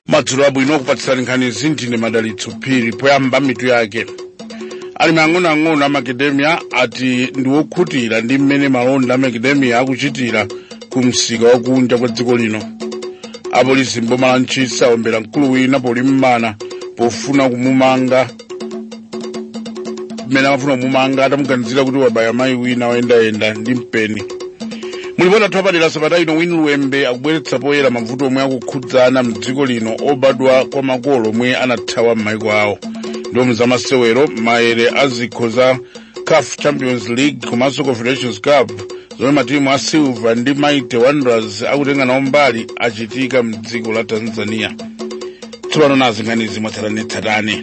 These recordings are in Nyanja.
madzulo abwino kukupatsirani nkhanizi ndine madalitso phiri poyamba mitu yake alimi ang'onoang'ono a macadamia ati ndi wokhutira ndi mmene malonda a macadamia akuchitira ku msika wakunja kwa dziko lino apolisi mboma la ntchisi aombera mkulu wina polimbana nawo pofuna kumumanga mmene amafuna kumumanga atamuganizira kuti wabaya mayi wina woyendayenda ndi mpeni mulipoti athu apadera sabata ino winnie luwembe akubweretsa poyera mavuto omwe akukhudza ana mdziko lino obadwa kwa makolo omwe anathawa m'maiko awo ndipo mzamasewero mayere a zikho za caf champions league komanso confederations cup zomwe matimu a silver ndi mighty wanderers akutenga nawo mbali achitika mdziko la tanzania tsopano nazi nkhanizi mwatsatanetsatane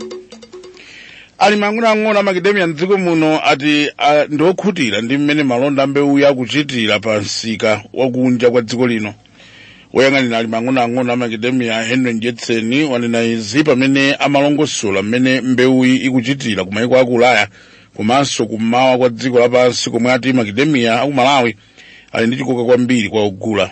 alimi ang'onoang'ono a makedemiya mdziko muno ati ah, ndi okhutira ndi mmene malonda ambewuyi akuchitira pa msika wakunja kwa dziko lino woyang'anira alimi ang'onoang'ono a makedemiya henry njetseni wanena izi pamene amalongosola mmene mbewuyi ikuchitira ku maiko aku ulaya komanso kummawa kwa dziko lapansi komwe ati makedemiya aku malawi ali ndi chikoka kwambiri kwa ogula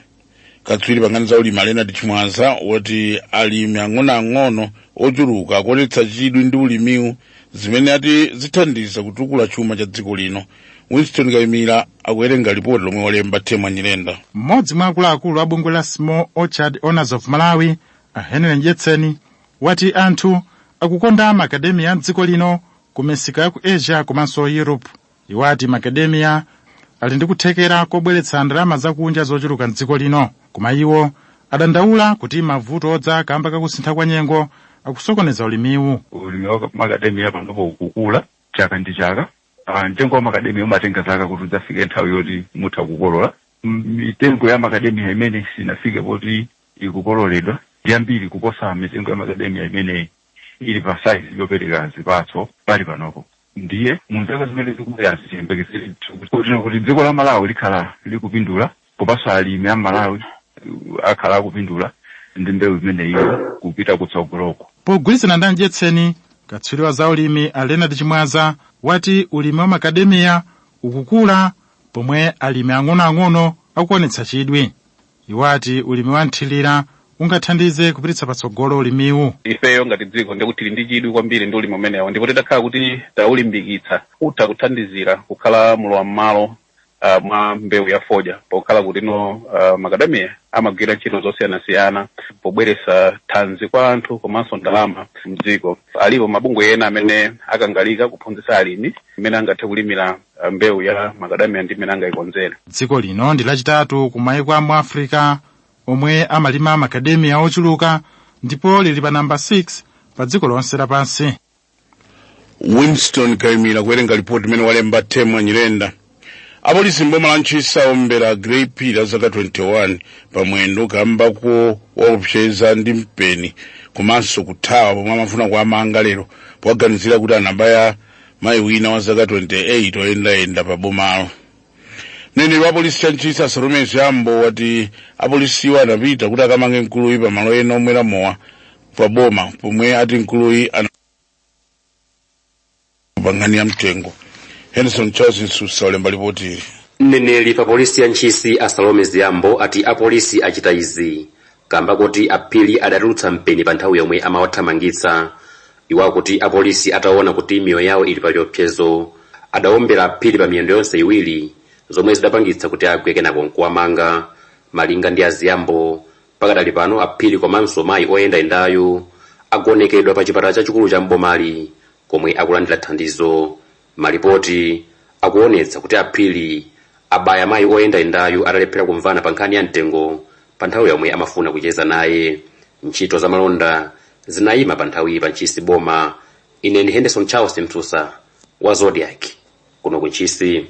katswiri pankhani za ulimi a leonard chimwaza wati alimi ang'onoang'ono ochuluka akuonetsa chidwi ndi ulimiwu zimene ati zithandiza kutukula chuma cha dziko lino winston kayimira akuwerenga lipoti lomwe walemba temwa nyirenda mmodzi mwa akuluakulu a bungwe la small orchard owners of malawi a henry njetseni wati anthu akukonda makademia a mdziko lino ku misika ya ku asia komanso europe Iwo ati Makedemia ali ndi kuthekera kobweretsa ndalama zakunja zochuluka m'dziko lino, koma iwo adandaula kuti mavuto odza kamba kakusintha kwa nyengo akusokoneza ulimiwu. Ulimi wa Makedemia panopo ukukula chaka ndi chaka. Ah, Mtengo wa Makedemia umatenga zaka kuti udzafike nthawi yoti mutha kukolola. M- Mitengo ya Makedemia imene sinafike poti ikukololedwa ndi yambiri kuposa mitengo ya Makedemia imene ili pa saizi yopereka zipatso pali panopo ndiye mu zaka zimene zikubwerazi tiyembekezere kuti dziko la malawi likhala likupindula komanso alimi a malawi uh, akhala akupindula ndi mbewu imeneyiyo kupita kutsogoloko pogwirizana ndi anjetseni katswiri wa za ulimi a leonard chimwaza wati ulimi wa makademiya ukukula pomwe alimi ang'onoang'ono akuonetsa chidwi Iwo ati ulimi wa mthilira ungathandize kupititsa patsogolo ulimiwu. ifeyo ngati dziko ndikuti tili ndi chidwi kwambiri ndi ulimi umenewo ndipo titakhala kuti taulimbikitsa utha kuthandizira kukhala mulowa mmalo uh, mwa mbewu ya fodya pokhala kutino uh, makadamiya amagwira ntchito zosiyanasiyana pobweresa thanzi kwa anthu komanso ndalama mdziko alipo mabungwe ena amene akangalika kuphunzitsa alimi mmene angathe kulimira ah, mbewu ya makadamia ndi mmene angayikonzere dziko lino ndi lachitatu ku maiko a mu africa omwe amalima makadamiya ochuluka ndipo lili pa namba 6 pa dziko lonse lapansi winston kaimira kuwerenga lipoti imene walemba temwa nyirenda apolisi mboma la ntchisi aombera grey phiri zaka 21 pamwendo kamba kowaopseza ndi mpeni komanso kuthawa pomwe amafuna kuamanga lero powaganizira kuti anabaya mayi wina wa zaka 28 oyendayenda pa bomalo mneneri wa polisi ya ntchisi a salome ziyambo wati apolisiwo anapita kuti akamange mkuluyi pa malo ena omwera mowa pa boma pomwe ati mkuluyi anapanga nkhani ya mtengo henderson charles msusa walemba lipoti ili mneneri pa polisi ya ntchisi a salome ziyambo ati apolisi achita izi kamba koti a Phiri adatulutsa mpeni pa nthawi yomwe amawathamangitsa. Iwo akuti apolisi ataona kuti miyoyo yawo ili pa chiopsezo adawombera a Phiri pa miyendo yonse iwiri zomwe zidapangitsa kuti agwe kenako nkuwamanga. Malinga ndi a Ziyambo, pakadali pano a Phiri komanso mayi oyendayendayu agonekedwa pa chipatala chachikulu cha m'bomali komwe akulandira thandizo. Malipoti akuonetsa kuti a Phiri abaya mayi oyendayendayu atalephera kumvana pa nkhani ya mtengo pa nthawi yomwe amafuna kucheza naye. Ntchito za malonda zinayima pa nthawiyi pa Ntchisi boma. Ine ndi Henderson Charles Msusa wa Zodiak kuno ku Ntchisi.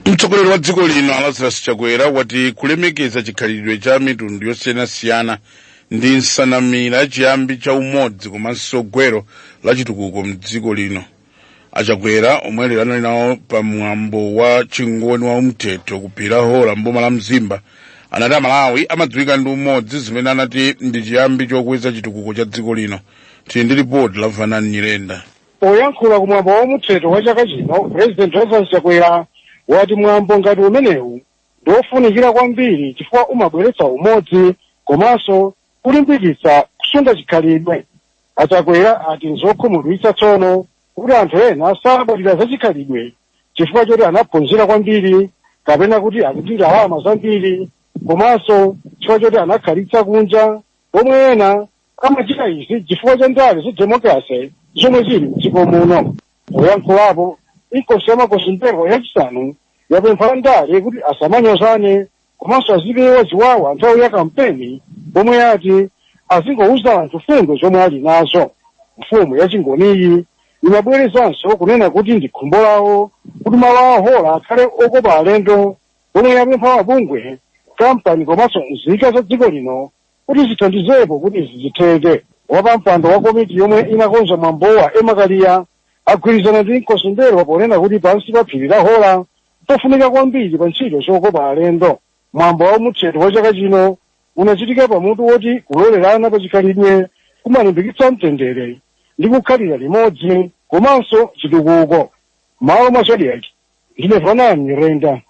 mtsogoleri wa dziko lino a lazarus chakwera wati kulemekeza chikhalidwe cha mitundu yosiyanasiyana ndi nsanamira chiyambi cha umodzi komanso gwero la chitukuko mdziko lino achakwera omwe lero anali nawo pa mwambo wa chingoni wa umthetho ku phiri la hora mboma la mzimba anati amalawi amadziwika ndi umodzi zimene anati ndi chiyambi chokweza chitukuko cha dziko lino tili ndi ripoti la vanani nyirenda Poyankhula ku mwambo wa umthetho wa chaka chino, Purezidenti Lazarus Chakwera wati mwambo ngati umenewu ndi ofunikira kwambiri chifukwa umabweretsa umodzi komanso kulimbikitsa kusunga chikhalidwe. A Chakwera ati nzokhumudwitsa tsono kuti anthu ena salabadira za chikhalidwe chifukwa choti anaphunzira kwambiri kapena kuti ali ndi ndalama zambiri komanso chifukwa choti anakhalitsa kunja pomwe ena amachita izi chifukwa cha ndale za democracy zomwe zili mdziko muno poyankhulapo inkosi yamakosi m'mbelwa yachisanu yapempha andale kuti asamanyozane komanso azipewa ziwawa nthawi ya kampeni pomwe yati azingouza anthu fundo zomwe ali nazo mfumu yachingoniyi imabwerezanso kunena kuti ndi khumbo lawo kuti malo a hora akhale okopa alendo pomwe yapempha mabungwe kampani komanso nzika za dziko lino Kuti zithandizepo kuti izi zitheke, wapampando wa komiti yomwe inakonza mwambowa Emma Kaliya agwirizana ndi Nkosi M'mbelwa ponena kuti pansi pa phiri la Hora mpofunika kwambiri pa ntchito zokopa alendo. Mwambo wa umuthetho wa chaka chino unachitika pa mutu woti kulolerana pa chikhalidwe kumalimbikitsa mtendere ndi kukhalira limodzi komanso chitukuko. Mmalo mwa Zodiak, ndine vanani nyirenda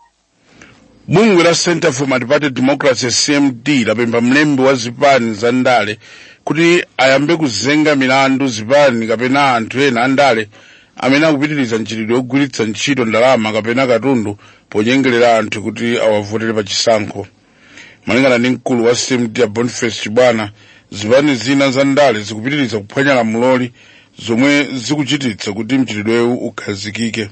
bungwe la center for multiparty democracy cmd lapempha mlembi wa zipani za ndale kuti ayambe kuzenga milandu zipani kapena anthu ena a ndale amene akupitiriza mchitidwe wogwiritsa ntchito ndalama kapena katundu ponyengerera anthu kuti awavotere pa chisankho malingana ndi mkulu wa cmd a boniface chibwana zipani zina za ndale zikupitiriza kuphwanya lamuloli zomwe zikuchititsa kuti mchitidwewu ukhazikike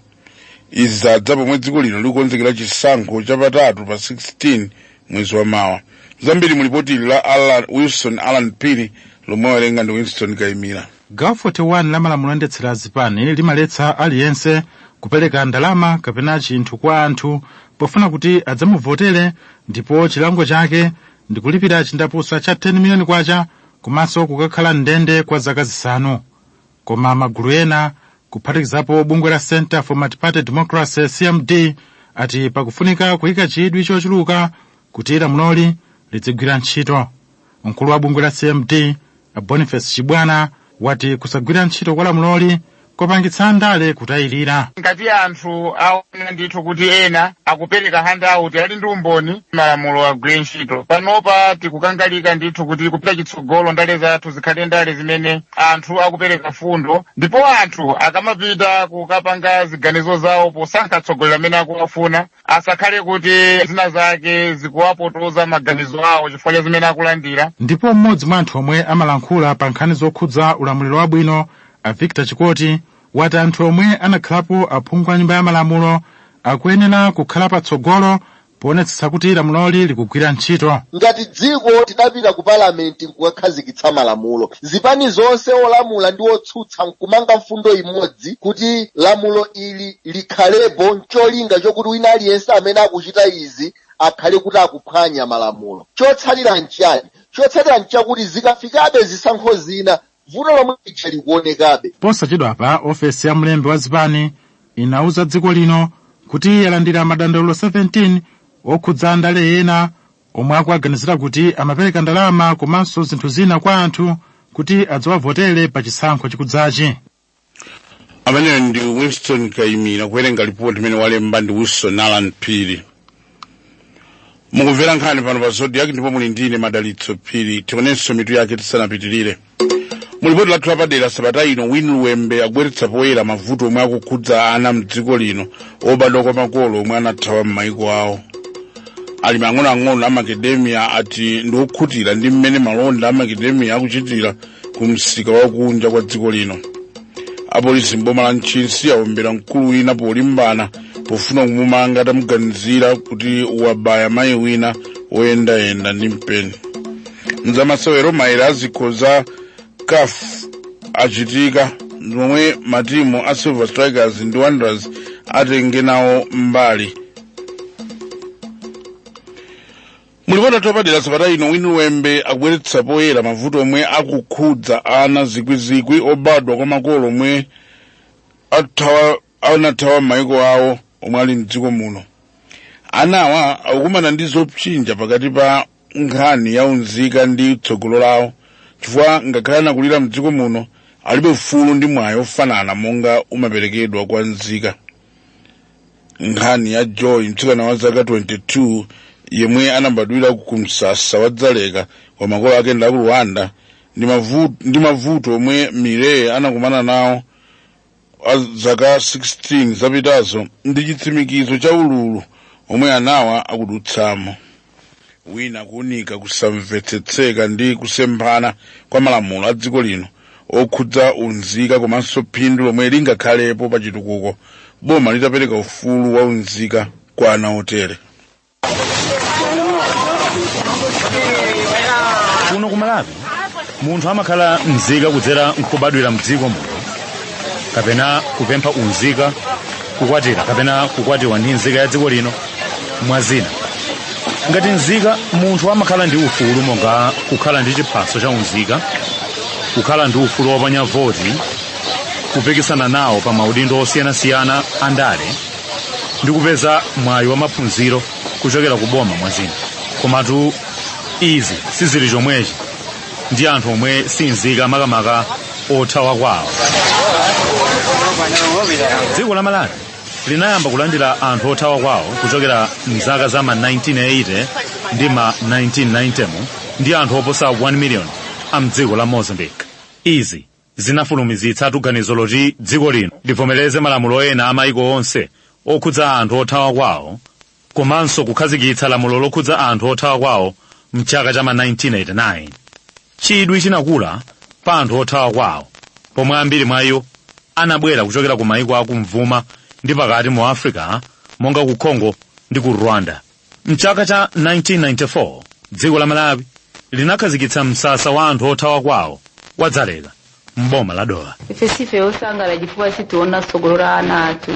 izi zadza pomwe dziko lino likukonzekera chisankho chapatatu pa 16 mwezi wa mawa zambiri mulipoti ili la wilson allan phiri lomwe wawerenga ndi winstone kaimira gawo 41 la malamulo oyendetsera azipani limaletsa aliyense kupereka ndalama kapena chinthu kwa anthu pofuna kuti adzamuvotere ndipo chilango chake ndi kulipira chindapusa cha 10 miliyoni kwacha komanso kukakhala mndende kwa zaka zisanu koma magulu ena kuphatikizapo bungwe la center for multiparty democracy cmd ati pakufunika kuyika chidwi chochuluka kuti lamuloli lidzigwira ntchito mkulu wa bungwe la cmd a boniface chibwana wati kusagwira ntchito kwa lamuloli kwapangitsa andale kutayirira ngati anthu aona ndithu kuti ena akupereka handout ali ndi umboni malamulo agwire ntchito panopa tikukangalika ndithu kuti kupita chitso patsogolo ndale zathu zikhale ndale zimene anthu akupereka fundo ndipo anthu akamapita kukapanga ziganizo zawo posankha atsogoleri amene akuwafuna asakhale kuti zina zake zikuwapotoza maganizo awo chifukwa cha zimene akulandira ndipo mmodzi mwa anthu omwe amalankhula pa nkhani zokhudza ulamuliro wabwino a victor chikoti wati anthu omwe anakhalapo aphungu a nyumba ya malamulo akuyenera kukhala patsogolo poonetsetsa kuti lamuloli likugwira ntchito. Ngati dziko tidapita ku Parliament nkukakhazikitsa malamulo, zipani zonse olamula ndi otsutsa nkumanga mfundo imodzi kuti lamulo ili likhalepo ncholinga chokuti wina aliyense amene akuchita izi akhale kuti akuphwanya malamulo. Chotsalira nchiyani? Chotsalira nchakuti zikafikabe zisankho zina vuto lomwe lija likuonekabe posachedwapa ofesi ya mlembi wa zipani inauza dziko lino kuti yalandira madandaulo 17 okhudza andale ena omwe akuwaganizira kuti amapereka ndalama komanso zinthu zina kwa anthu kuti adzawavotere pa chisankho chikudzachi amene ndi winston kaimira kuwerenga lipoti imene walemba ndi wilson alan phiri mukumvera nkhani pano pa zodiak ndipo muli ndine madalitso phiri tionenso mitu yake tisanapitirire mu lipoti lathu lapadera sabata ino win luwembe wabweretsa poyera mavuto omwe akukhudza ana mdziko lino obadwa kwa makolo omwe anathawa m'maiko awo alimi ang'onoang'ono a macadamia ati ndi okhutira ndi mmene malonda a macadamia akuchitira ku msika wa kunja kwa dziko lino apolisi m'boma la ntchisi awombera mkulu wina polimbana pofuna kumumanga atamuganizira kuti wabaya mayi wina woyendayenda ndi mpeni mzamasewero mayere a zikho za caf achitika zomwe matimu a silver strikers ndi wanderers atenge nawo mbali mu lipoti lathu lapadera sabata ino win luwembe akubweretsa poyera mavuto omwe akukhudza ana zikwizikwi obadwa kwa makolo omwe anathawa m'mayiko awo omwe ali mdziko muno anawa akukumana ndi zopsinja pakati pa nkhani ya unzika ndi tsogolo lawo chifukwa ngakhale anakulira mdziko muno alibe ufulu ndi mwayi ofanana monga umaperekedwa kwa nzika nkhani ya joy mtsikana wa zaka 22 yemwe anabadwira ku msasa wa dzaleka kwa makolo ake a ku rwanda ndi mavu- ndi mavuto omwe mireye anakumana nawo zaka 16 zapitazo ndi chitsimikizo cha ululu omwe anawa akudutsamo win akuunika kusamvetsetseka ndi kusemphana kwa malamulo a dziko lino okhudza unzika komanso phindu lomwe lingakhalepo pa chitukuko boma litapereka ufulu wa unzika kwa ana otere kuno ku malawi munthu amakhala mzika kudzera nkubadwira mdziko muno kapena kupempha unzika kukwatira kapena kukwatiwa ndi nzika ya dziko lino mwa zina ngati nzika munthu amakhala ndi ufulu monga kukhala ndi chiphaso cha unzika kukhala ndi ufulu woponya voti kupikisana nawo pa maudindo osiyanasiyana andale ndi kupeza mwayi wa maphunziro kuchokera ku boma mwazina komatu izi sizili chomwechi ndi anthu omwe sinzika makamaka othawa kwawo dziko la malawi linayamba kulandira anthu othawa kwawo kuchokera mzaka za ma 1980 ndi ma 1990 ndi anthu oposa 1 million a mdziko la mozambique izi zinafulumizitsatu ganizo loti dziko lino livomereze malamulo ena a maiko onse okhudza anthu othawa kwawo komanso kukhazikitsa lamulo lokhudza anthu othawa kwawo mchaka cha ma 1989 chidwi chinakula pa anthu othawa kwawo pomwe ambiri mwa iwo anabwera kuchokera ku maiko akumvuma ndi pakati mu africa monga ku congo ndi ku rwanda mchaka cha 1994 dziko la malawi linakhazikitsa msasa wa anthu othawa kwawo wa dzaleka m'boma la dowa ife sife osangala chifukwa sitikuona tsogolo la ana athu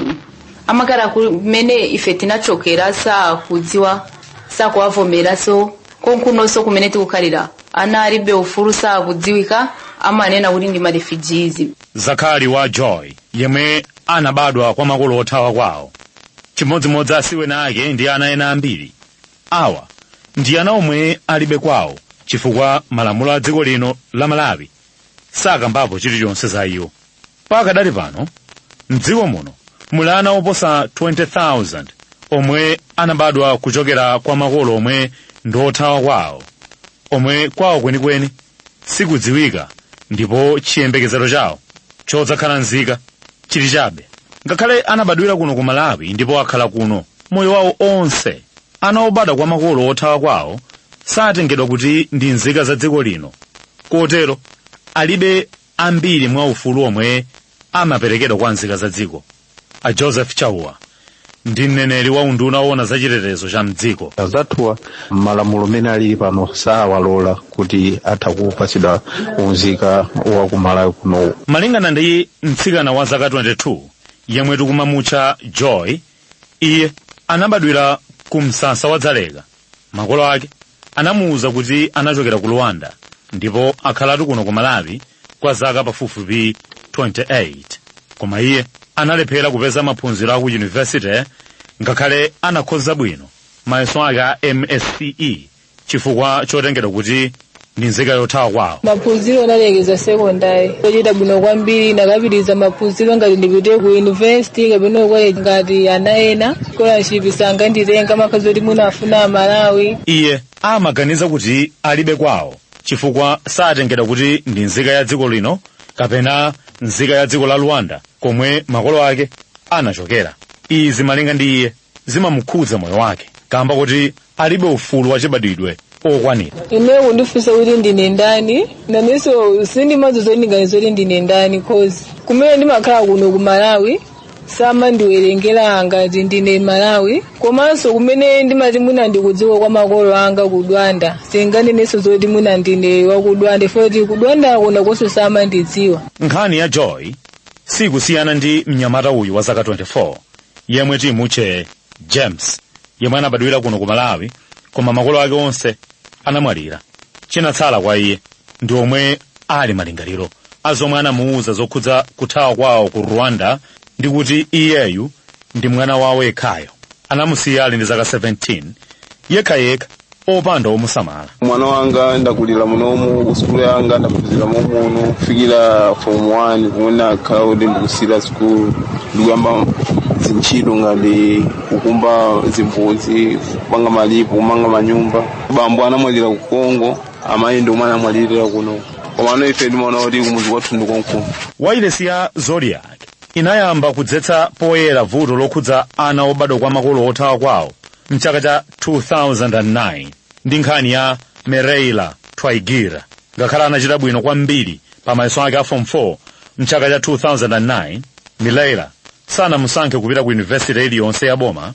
amakhala kumene ife tinachokera sakudziwa sakuwavomeranso konkunonso kumene tikukhalira ana alibe ufulu sakudziwika amanena kuti ndi marefugees zakali wa joy yemwe anabadwa kwa makolo othawa kwawo chimodzimodzi asiwene ake ndi ana ena ambiri awa ndi ana omwe alibe kwawo chifukwa malamulo a dziko lino la malawi sakambapo chilichonse za iwo pakadali pano mdziko muno muli ana oposa 20,000 omwe anabadwa kuchokera kwa makolo omwe ndi othawa kwawo omwe kwawo kwenikweni sikudziwika ndipo chiyembekezero chawo chodzakhala nzika chili chabe ngakhale anabadwira kuno ku malawi ndipo akhala kuno moyo wawo onse ana obadwa kwa makolo othawa kwawo satengedwa kuti ndi nzika za dziko lino kotero alibe ambiri mwa ufulu omwe amaperekedwa kwa nzika za dziko a joseph chauwa ndi mneneri wa unduna woona za chitetezo cha mdziko anzathuwa malamulo mmene alili pano sawalola kuti atha kupatsidwa unzika wa kumalawi kuno malingana ndi mtsikana wa zaka 22 yemwe tikumamutcha joy iye anabadwira ku msasa wa dzaleka makolo ake anamuuza kuti anachokera ku rwanda ndipo akhalatu kuno ku malawi kwa zaka pafupifupi 28 koma iye analephera kupeza maphunziro a ku yunivesite ngakhale anakhoza bwino mayeso ake a msce chifukwa chotengedwa kuti ndi nzika yothawa kwawo maphunziro ndinalekeza sekondari ndinachita bwino kwambiri ndikapitirize maphunziro ngati ndipite ku yunivesiti kapena ku college ngati ana ena scholarship sanganditenge amakhala kuti mwina afuna amalawi iye amaganiza kuti alibe kwawo chifukwa satengedwa kuti ndi nzika ya dziko lino kapena nzika ya dziko la rwanda komwe makolo ake anachokera izi malinga ndi iye zimamukhudza moyo wake kamba kuti alibe ufulu wachibadwidwe okwanira ine kundifunsa kuti ndine ndani nanenso sindimadziwa zoti ndinganene zoti ndine ndani cause kumene ndimakhala kuno ku malawi samandiwerengera ngati ndine malawi komanso kumene ndimati mwina ndikudziko kwa makolo anga ku rwanda singanenenso zoti mwina ndine wa ku rwanda foti ku rwanda konko konso samandidziwa nkhani ya joy sikusiyana ndi mnyamata uyu wa zaka 24 yemwe timutche james yemwe anabadwira kuno ku malawi koma makolo ake onse anamwalira chinatsala kwa iye ndi omwe ali malingaliro a zomwe anamuwuza zokhudza kuthawa kwawo ku rwanda ndi kuti iyeyu ndi mwana wawo yekhayo anamusiya ali ndi zaka 17 yekhayekha opanda omusamala umwana wanga ndakulira munomu sukulu yanga ndaphunzira momuno kufikira form 1 kumene kukhala kuti ndikusiya sukulu ndikuyamba zintchito ngati kukumba zimbudzi kupanga malipo kumanga manyumba bambo anamwalira ku congo amayi ndi omwe anamwalirira kuno komano ine ndimaona kuti kumuzi kwathu ndi konkuno wailesi ya zodiak inayamba kudzetsa poyera vuto lokhudza ana obadwa kwa makolo othawa kwawo mchaka cha 2009 ndi nkhani ya mireille twayigira ngakhale anachita bwino kwambiri pa mayeso ake a form 4 mchaka cha 2009 mireille sanamusankhe kupita ku yunivesite iliyonse ya boma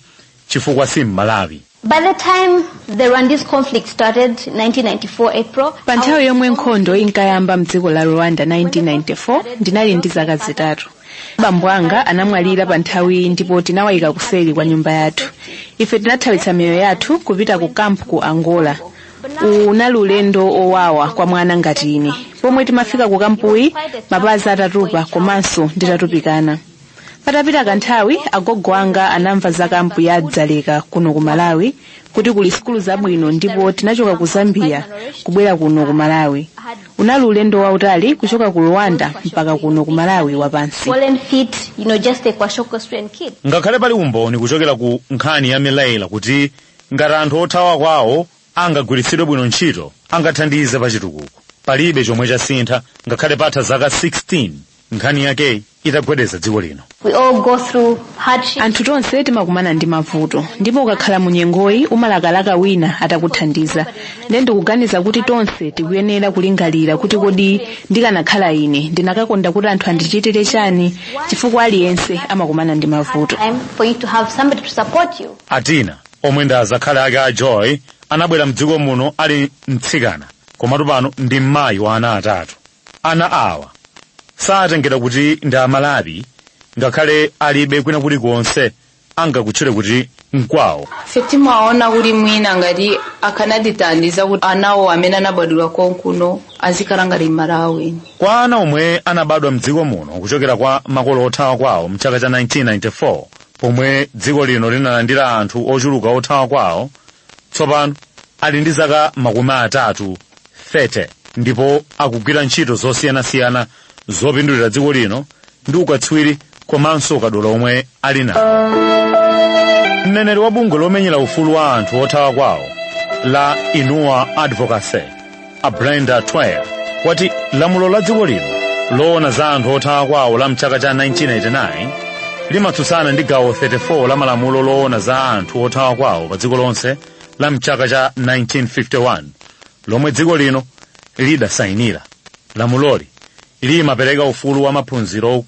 chifukwa si mmalawi By the time the Rwandese conflict started, 1994 April, pa nthawi yomwe nkhondo inkayamba mdziko la rwanda 1994 ndinali ndi zaka zitatu bambo anga anamwalira pa nthawiyi ndipo tinawayika kuseri kwa nyumba yathu ife tinathawitsa miyoyo yathu kupita ku kampu ku angola unali ulendo wowawa kwa mwana ngati ine pomwe timafika ku kampuyi mapazi atatupa komanso nditatupikana patapita kanthawi agogo anga anamva za kampu ya dzaleka kuno ku malawi kuti kuli sukulu zabwino ndipo tinachoka ku zambia kubwera kuno ku malawi unali ulendo wautali kuchoka ku rwanda mpaka kuno ku malawi wapansi swollen feet, you know, just a kwashiorkor stricken kid. ngakhale pali umboni kuchokera ku nkhani ya mireille kuti ngati anthu othawa kwawo angagwiritsidwe bwino ntchito angathandize pa chitukuko palibe chomwe chasintha ngakhale patha zaka 16 nkhani yakeyi itagwedeza dziko lino We all go through hardship. anthu tonse timakumana ndi mavuto ndipo ukakhala mu nyengoyi umalakalaka wina atakuthandiza nde ndikuganiza kuti tonse tikuyenera kulingalira kuti kodi ndikanakhala ine ndikanakonda kuti anthu andichitire chani chifukwa aliyense amakumana ndi mavuto Time for you to have somebody to support you. A Tina, omwe ndi azakhali ake a Joy, anabwera m'dziko muno ali mtsikana, komatu pano ndi mmayi wa ana atatu. Ana awa satengedwa kuti ndi Amalawi ngakhale alibe kwina kulikonse angakutchule kuti nkwawo. Ife timaona kuti mwina ngati akanatithandiza kuti anawo amene anabadwira konkuno azikhala ngati Amalawi. Kwa ana omwe anabadwa m'dziko muno kuchokera kwa makolo othawa kwawo mchaka cha 1994, pomwe dziko lino linalandira anthu ochuluka othawa kwawo tsopano ali ndi zaka makumi atatu 30 ndipo akugwira ntchito zosiyanasiyana zopindulira dziko lino ndi ukatswiri komanso ukadaulo omwe ali nawo mneneri wa bungwe lomenyera ufulu wa anthu othawa kwawo la inua advocacy a brenda twyer ati lamulo la dziko lino loona za anthu othawa kwawo la mchaka cha 1989 limatsutsana ndi gawo 34 la malamulo loona za anthu othawa kwawo pa dziko lonse la mchaka cha 1951 lomwe dziko lino lidasayinira lamuloli limapereka ufulu wa maphunziro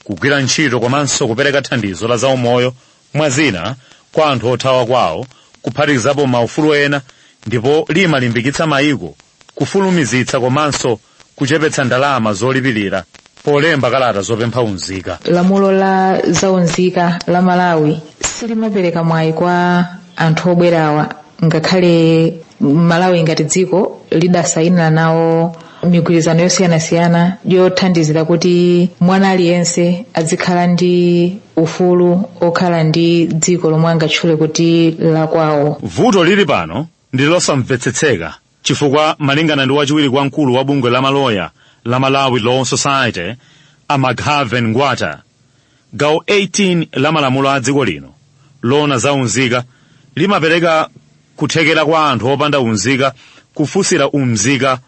kugwira ntchito komanso kupereka thandizo la zaumoyo mwa zina, kwa anthu othawa kwawo, kuphatikizapo maufulu ena, ndipo limalimbikitsa mayiko kufulumizitsa komanso kuchepetsa ndalama zolipirira polemba kalata zopempha unzika. lamulo la zaunzika la malawi silimapereka mwayi kwa anthu obwerawa ngakhale malawi ngati dziko lidasayinira nawo migwirizano yosiyanasiyana yothandizira kuti mwana aliyense azikhala ndi ufulu okhala ndi dziko lomwe angatchule kuti lakwawo vuto lili pano ndi losamvetsetseka chifukwa malingana ndi wachiwiri kwa mkulu wa bungwe la maloya la malawi law society a McHarven Ngwata Gawo 18 la malamulo a dziko lino loona za unzika limapereka kuthekera kwa anthu opanda unzika kufunsira unzika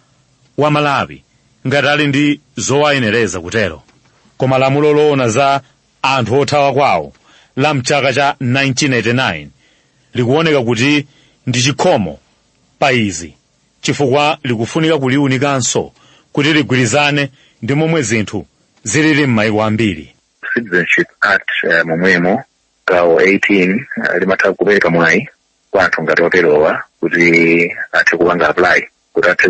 wa Malawi ngati ali ndi zowayenereza kutero. Koma lamulo loona za anthu othawa kwawo la mchaka cha 1989 likuoneka kuti ndi chikhomo pa izi. chifukwa likufunika kuliunikanso kuti ligwirizane ndi momwe zinthu zilili m'mayiko ambiri Citizenship Act eh, momwemo gawo 18 eh, limatha kupereka mwayi kwa anthu ngati oterowa kuti athe kupanga apply kuti athe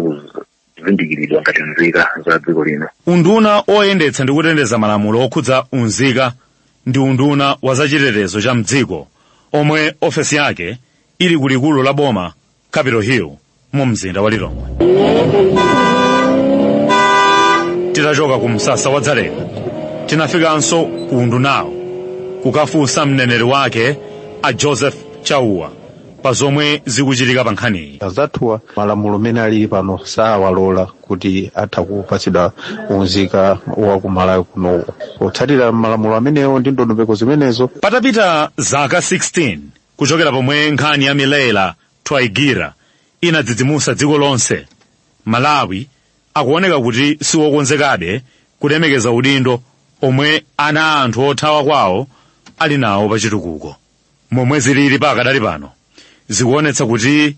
kuzindikiridwa ngati nzika za dziko lino unduna oyendetsa ndi kuteteza malamulo okhudza unzika ndi unduna wa zachitetezo cha mdziko omwe ofesi yake ili ku likulu la boma capital hill mu mzinda wa lilongwe titachoka ku msasa wa dzaleka tinafikanso ku undunawo kukafunsa mneneri wake a joseph chauwa pa zomwe zikuchitika pa nkhaniyi anzathuwa malamulo amene alili pano sawalola kuti atha kupatsidwa unzika wa ku malawi kunowo potsatira malamulo amenewo ndi ndondomeko zimenezo patapita zaka 16 Kuchokera pomwe nkhani ya Mireille Twayigira inadzidzimusa dziko lonse, Malawi akuoneka kuti siwokonzekabe kulemekeza udindo omwe ana a anthu othawa kwawo ali nawo pachitukuko. Momwe zilili pakadali pano, zikuonetsa kuti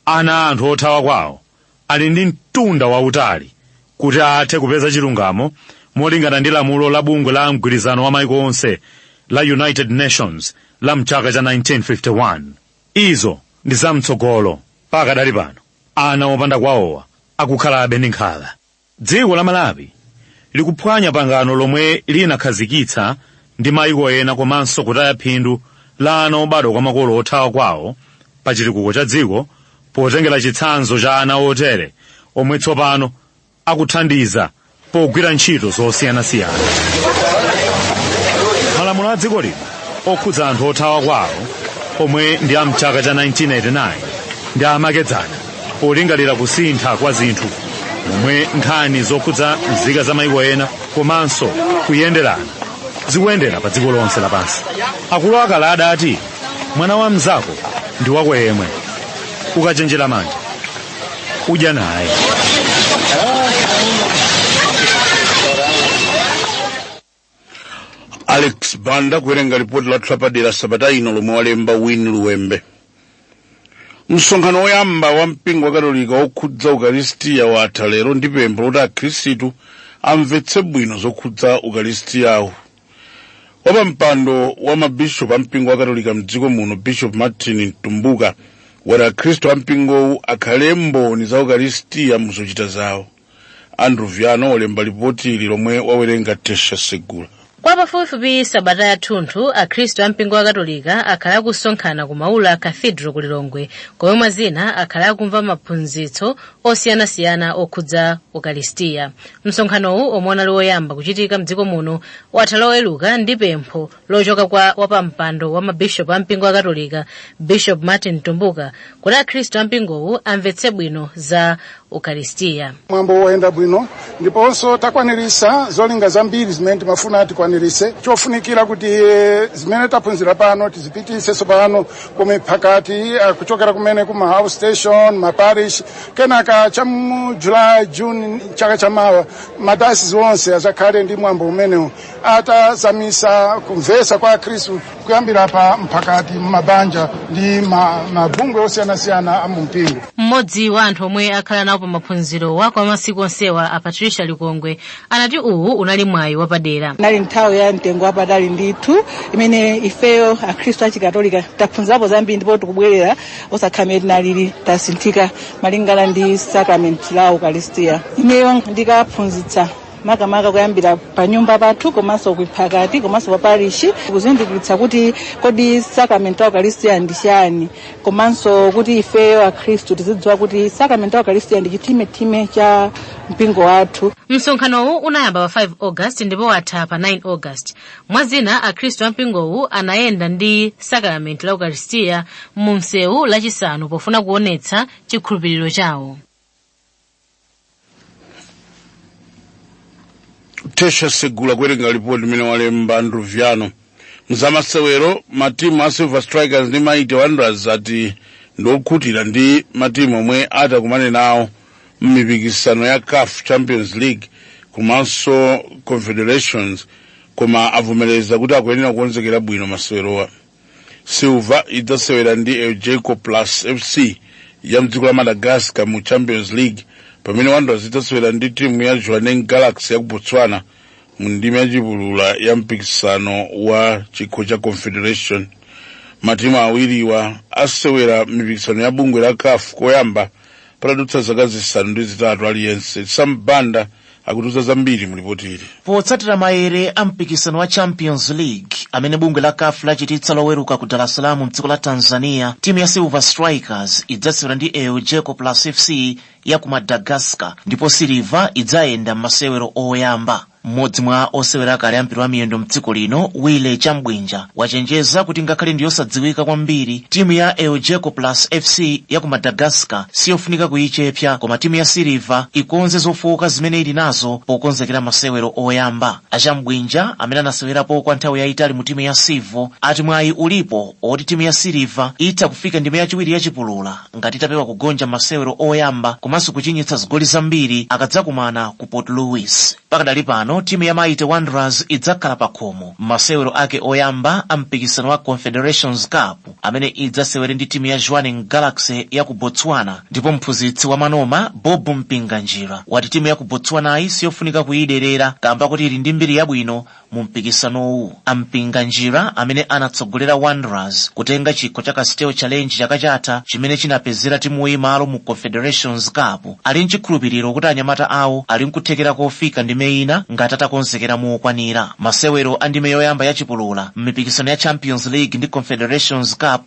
Ana a anthu othawa kwawo ali ndi mtunda wautali kuti athe kupeza chilungamo molingana ndi lamulo la bungwe la mgwirizano wa maiko onse la united nations la mchaka cha 1951 izo ndi zamtsogolo pakadali pano ana opanda kwawowa akukhalabe ndi nkhawa Dziko la Malawi likuphwanya pangano lomwe linakhazikitsa ndi maiko ena komanso kutaya phindu la ana obadwa kwa makolo othawa kwawo pa chitukuko cha dziko potengera chitsanzo cha ana otere omwe tsopano akuthandiza pogwira ntchito zosiyanasiyana. Malamulo a dziko lino okhudza anthu othawa kwawo omwe ndi a mchaka cha 1989 ndi amakedzana polingalira kusintha kwa zinthu momwe nkhani zokhudza nzika za maiko ena komanso kuyenderana zikuyendera pa dziko lonse lapansi akulu akale adati mwana wa mnzako ndi wako yemwe ukachenjera manja udya naye alex banda kuwerenga lipoti lathu lapadera sabata ino lomwe walemba win luwembe msonkhano woyamba wa mpingo wa katolika wokhudza ukaristiya watha lero ndi pempho loti akhristu amvetse bwino zokhudza ukaristiyawu wapampando wa mabishopu a mpingo wa katolika mdziko muno bishop martin mtumbuka wati akhristu a mpingowu akhale mboni za ukaristiya muzochita zawo andrew viano walemba lipotili lomwe wawerenga tesha segula kwa pafupifupi sabata yathunthu akhristu a mpingo wa katolika akhala akusonkhana ku maula cathedral ku lilongwe komwe mwa zina akhala akumva maphunzitso osiyanasiyana okhudza ukaristiya msonkhanowu omwe unali woyamba kuchitika mdziko muno watha loweruka ndi pempho lochoka kwa wapampando wa mabishopu a mpingo wa katolika bishop martin mtumbuka kuti akhristu a mpingowu amvetse bwino za ukaristiya mwambo woyenda bwino ndiponso takwaniritsa zolinga zambiri zimene timafuna tikwaniritse chofunikira kuti eh, zimene taphunzira pano tizipititse tsopano ku miphakati eh, kuchokera kumene ku maout station maparish kenaka cha mu july june chaka chamawa madayosisi onse azakhale ndi mwambo umenewu atazamisa kumvesa kwa akhristu kuyambira pa mphakati mumabanja ndi ma- mabungwe osiyanasiyana a mumpingo mmodzi wa anthu omwe akhala nawo pa maphunziro wa kwa masiku onsewa a patricia likongwe anati uwu unali mwayi wapadera nali nthawi ya mtengo wapatali ndithu imene ifeyo akhristu achikatolika taphunzirapo zambiri ndipo tikubwerera osakhala mmene tinalili tasinthika malingana ndi sakramenti la ukaristiya ineyo ndikaphunzitsa makamaka kuyambira pa nyumba pathu komanso kumphakati komanso pa parishi kuzindikiritsa kuti kodi sakramenti la ukaristiya ndi chani komanso kuti ifeyo akhristu tizidziwa kuti sakramenti la ukaristiya ndi chitimatima cha mpingo wathu msonkhanowu unayamba pa 5 august ndipo watha pa 9 august mwa zina akhristu a mpingowu anayenda ndi sakaramenti la ukaristiya mu msewu lachisanu pofuna kuonetsa chikhulupiriro chawo tesha segula kuwerenga lipoti limene walemba andrew viano mzamasewero matimu a silver strikers ndi mighty wanderers ati ndiokhutira ndi matimu omwe atakumane nawo m'mipikisano ya caf champions league komanso confederations koma avomereza kuti akuyenera kukonzekera bwino masewerowa silver idzasewera ndi elgeco plus fc ya mdziko la madagascar mu champions league pamene wanderers idzasewera ndi timu ya jwaneng galaxy ya ku botswana mu ndime yachipulula ya mpikisano wa chikho cha confederation matimu awiriwa asewera mipikisano ya bungwe la caf koyamba patadutsa zaka zisanu ndi zitatu aliyense sam banda akutiuza zambiri mu lipoti ili potsatira mayere a mpikisano wa champions league amene bungwe la caf lachititsa loweruka ku dar es salaam mdziko la tanzania timu ya silver strikers idzasewera ndi elgeco plus fc ya ku madagascar ndipo silver idzayenda m'masewero oyamba mmodzi mwa osewera akale ampira wa miyendo mdziko lino willy chabwinja wachenjeza kuti ngakhale ndi yosadziwika kwambiri timu ya elgeco plus fc ya ku madagascar siyofunika kuyichepsa koma timu ya silver ikonze zofowoka zimene ili nazo pokonzekera masewero oyamba a chabwinja amene anasewerapo kwa nthawi yayitali mu timu ya civo ati mwayi ulipo oti timu ya silver itha kufika ndime yachiwiri yachipulula ngati itapewa kugonja masewero oyamba komanso kuchinyitsa zigoli zambiri akadzakumana ku port louis pakadali pano timu ya mighty wanderers idzakhala pa khomo mmasewero ake oyamba a mpikisano wa confederations cup amene idzasewere ndi timu ya jwaneng galaxy ya ku botswana ndipo mphunzitsi wa manoma bob mpinganjira wati timu ya ku botswanayi siyofunika kuyiderera kamba kuti ili ndi mbiri yabwino mu mpikisanowu a mpinganjira amene anatsogolera wanderers kutenga chikho cha castel challenge chaka chatha chimene chinapezera timuyi malo mu confederations cup ali nchikhulupiriro kuti anyamata awo ali nkuthekera kofika ndime ina ngati atakonzekera mokwanira masewero a ndime yoyamba ya chipulula m'mipikisano ya champions league ndi confederations cup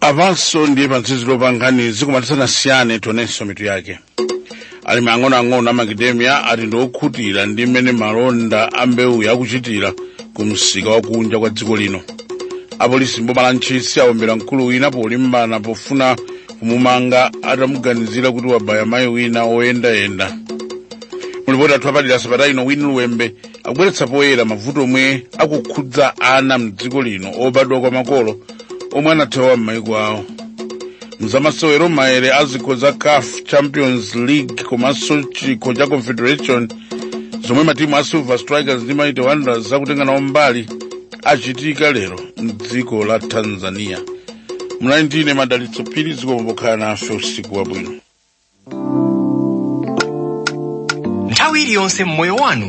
apanso ndiye pamtsiziro pa nkhani zikomo tisanasiyane tionenso mitu yake alimi ang'onoang'ono a makademia ati ndi okhutira ndi mmene malonda a mbewuyi akuchitira ku msika wakunja kwa dziko lino apolisi mboma la ntchisi awombera mkulu wina polimbana pofuna kumumanga atamuganizira kuti wabaya mayi wina oyendayenda mulipoti athu apadera sabata ino winnie luwembe akubweretsa poyera mavuto omwe akukhudza ana mdziko lino obadwa kwa makolo omwe anathawa m'maiko awo mzamasewero maere a zikho za caf champions league komanso chikho cha confederation zomwe matimu a silver strikers ndi mighty wanderers akutenga nawo mbali achitika lero mdziko la tanzania munali ndine madalitso phiri zikomo pokhala nafe usiku wabwino nthawi iliyonse m'moyo wanu